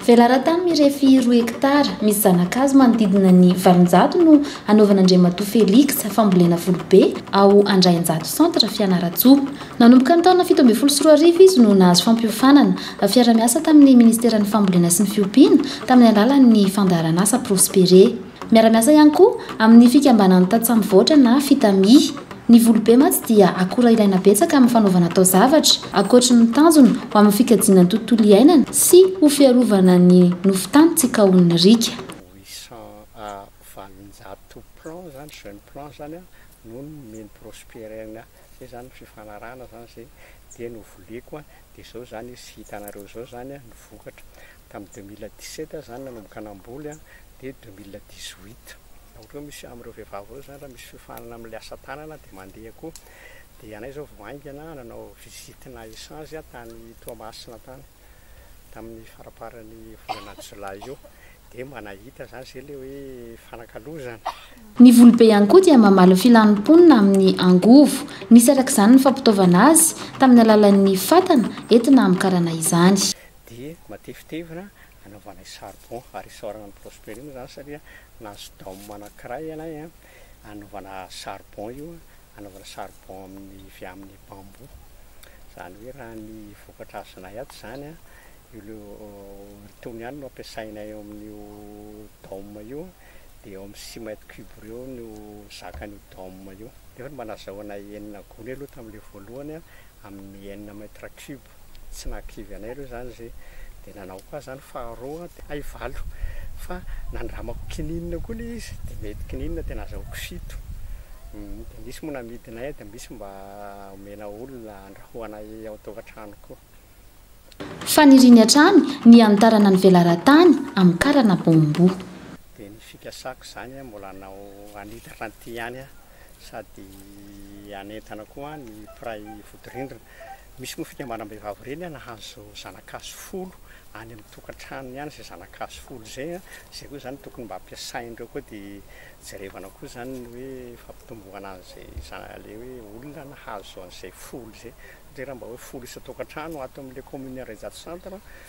Velaran-tany mirefy roa hekitara, misy zana-kazo manodidina ny valonjato no hanaovan'Andriamatoa Felix fambolena volobe ao Andrainjato Centre, Fianarantsoa. Nanomboka ny taona fito ambin'ny folo sy roa arivo izy no nahazo fampiofanana fiara-miasa tamin'ny Ministeran'ny Fambolena sy ny Fiompiana tamin'ny alalan'ny fandaharanasa Prospere. Miara-miasa ihany koa amin'ny fikambanan'ny tantsaha mivoatra na Fitami. Ny volobe mantsy dia akora ilaina betsaka amin'ny fanaovana taozavatra, ankoatry ny tanjony ho amin'ny fikajiana ny tontolo iainana sy ho fiarovana ny nofon-tany tsy kaohin'ny riaka. Huit cents à valonjato plants izany, jeunes plants izany no nomeny Prosperine izay izany ny fifanarahana izany izay dia novoliako dia izao izany izy hitanareo izao izany ny vokatra. Tamin'ny deux mille dix sept aho izany nanomboka namboly an, dia deux mille dix huit raha ohatra hoe misy amin'ireo vehivavy ireo izany raha misy fiofanana amin'ilay asa tanana dia mandeha koa. Dia anay izao vao haingana nanao visitina echange tany Toamasina tany, tamin'ny faramparan'ny volana jolay io, dia mba nahita izany izay ilay hoe fanakalozana. Ny volobe ihany koa dia mamaly ny filan'ny mponina amin'ny angovo. Nisy araka izany ny fampitaovana azy, tamin'ny alalan'ny fatana, entina hamokarana izany. dia matevitevina anaovanay charbon ary isaorana an'i Prosperine izany satria nahazo dôme anankiray ianay an, anaovana charbon io an, anaovana charbon amin'ny vy amin'ny bambou. Izany hoe raha ny vokatra azonay ato izany an, io itony ihany no ampiasainay eo amin'io dôme io an, dia eo amin'ny six mètres cubes eo no zakan'io dôme io. Nefa ny mba nazahoanay enina gony aloha tamin'ilay voalohany an, amin'ny enina mètres cubes. tsy nahakivy anay aloha izany izay dia nanao koa aho izany faharoa dia hay valo fa nandramako kininina koa ilay izy dia mety kininina dia nazahoako fito dia misy moa namidinay dia misy mba omena olona andrahoanay ao tokantrano koa. Faniriany hatrany ny hanitarana ny velaran-tany amin'ny karana bamboo. Dia ny fikasako izany an, mbola hanao hanitatra an'ity ihany aho sady hanentana koa ny mpiray vodirindrina. Misy moa fikambanam-behivavy ireny an, nahazo zana-kazo folo any amin'ny tokantranony ihany izay zana-kazo folo izay an, izay koa izany tokony mba ampiasain'ireo koa dia jerevana koa izany ny hoe fampitomboana an'izay zana, ilay hoe olona nahazo an'izay folo izay satria raha mba hoe folo isan-tokantrano ato amin'ilay commune Andraijato centre